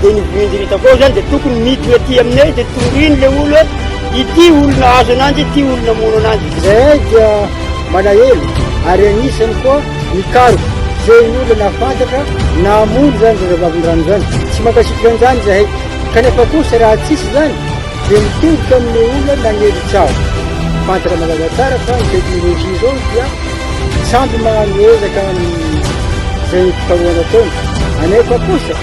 Dia ny voindrindra koa zany dia tokony miditra aty aminay dia toriany le olo hoe ity olona azo ananjy ity olona mono ananjy. Izahay dia malahelo ary anisany koa mikaroka izay ny olona nahafantatra nahamono izany zazavavindrano izany. Tsy mankasitraka an'izany izahay kanefa kosa raha tsisy izany dia mitodika amin'ny olona nanery tsaho. Fantatra mazava tsara fa ny teknolojia izao dia tsy ampy maha-mihezaka amin'izay fikarohana ataony. Anefa kosa